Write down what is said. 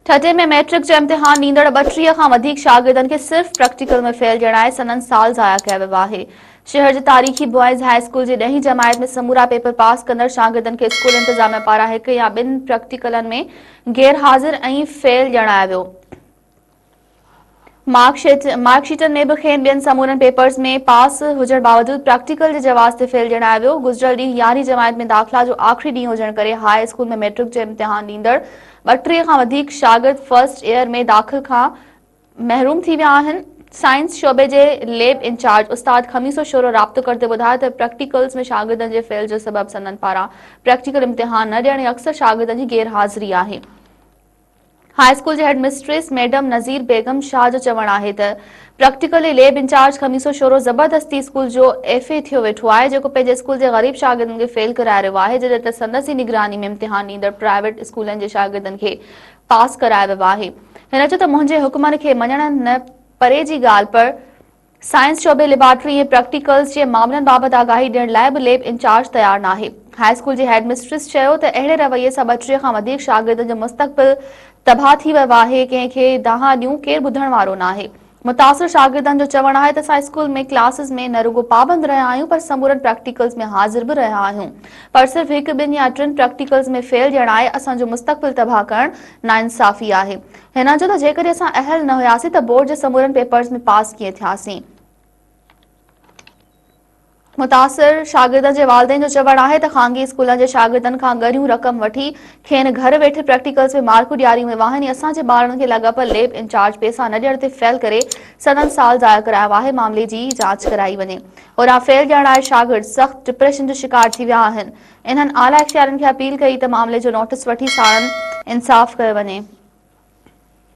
ٺٽي ۾ matric جو امتحان ڏيندڙ ٻٽيهه کان وڌيڪ شاگردن کي صرف پريڪٽيڪل ۾ فيل ڄڻائي سندن سال ضايع ڪيو ويو آهي شهر جي تاريخي بوائز هاء اسڪول جي ڏهين جماعت ۾ سمورا پيپر پاس ڪندڙ شاگردن کي اسڪول انتظاميا پاران هڪ يا ٻن پريڪٽيڪلن ۾ غيرحاضر ۽ فيل ڄڻايو ويو مارڪ شيٽن ۾ به کين ٻين سمورن پيپرز ۾ پاس هجڻ باوجود پراڪٽيڪل جي جواز تي فيل ڄڻايو ويو. گذريل ڏينهن يارهين جماعت ۾ داخلا جو آخري ڏينهن هجڻ ڪري هاء اسڪول ۾ ميٽرڪ جو امتحان ڏيندڙ ٻٽيهه کان وڌيڪ شاگرد فرسٽ ايئر ۾ داخل کان محروم ٿي ويا آهن. سائنس شعبي جي ليب انچارج استاد خميسو شورو رابطو ڪندي ٻڌايو ته پراڪٽيڪلز ۾ شاگردن جي فيل جو سبب سندن پاران پراڪٽيڪل امتحان نه ڏيڻ ۽ اڪثر شاگردن جي غير حاضري آهي. هاء اسڪول جي headmistress madam Nazir Begum Shah جو چوڻ آهي ته practical ۽ lab in-charge Khamiso Shoro زبردستي اسڪول جو ايف اي ٿيو ويٺو آهي جيڪو پنهنجي اسڪول جي غريب شاگردن کي فيل ڪرائي رهيو آهي جڏهن ته سندس ئي نگراني ۾ امتحان ڏيندڙ پرائيويٽ اسڪولن جي شاگردن کي پاس ڪرايو ويو آهي هن چيو ته منهنجي حڪمن کي مڃڻ نه پري جي ڳالهه پر سائنس شعبي ليبارٽري ۽ پريڪٽيڪلز جي معاملن بابت آگاهي ڏيڻ لاء به ليب انچارج تيار ناهي. هاء اسڪول جي هيڊ مسٽريس چيو ته اهڙي رويي سان ٻٽيهه کان وڌيڪ شاگردن جو مستقبل تباهه ٿي ويو آهي، ڪنهن کي دانهان ڏيون ڪير ٻڌڻ وارو ناهي. متاثر شاگردن جو چوڻ آهي ته اسان اسڪول ۾ ڪلاسز ۾ نه رڳو پابند رهيا آهيون پر سمورن پريڪٽيڪلز ۾ حاضر به رهيا آهيون پر صرف هڪ ٻن يا ٽن پريڪٽيڪلز ۾ فيل ڄڻائي اسان جو مستقبل تباهه ڪرڻ ناانصافي آهي هن جو ته جيڪڏهن اسان اهل نه هياسين ته بورڊ جي سمورن پيپرز ۾ پاس ڪيئن ٿياسين. متاثر شاگردن جي والدين جو چوڻ آهي ته خانگي اسڪولن جي شاگردن کان ڳريون رقم وٺي کين گهر ويٺي پريڪٽيڪلز ۾ مارڪون ڏياريون ويون آهن ۽ اسان جي ٻارڙن کي لاڳاپيل ليب انچارج پيسا نه ڏيڻ تي فيل ڪري سندن سال ضايع ڪرايو آهي معاملي جي جاچ ڪرائي وڃي هوڏانهن فيل ڏيڻ آئي شاگرد سخت ڊپريشن جو شڪار ٿي ويا آهن انهن اعليٰ اختيارين کي اپيل ڪئي ته معاملي جو نوٽيس وٺي ساڻن انصاف ڪيو وڃي.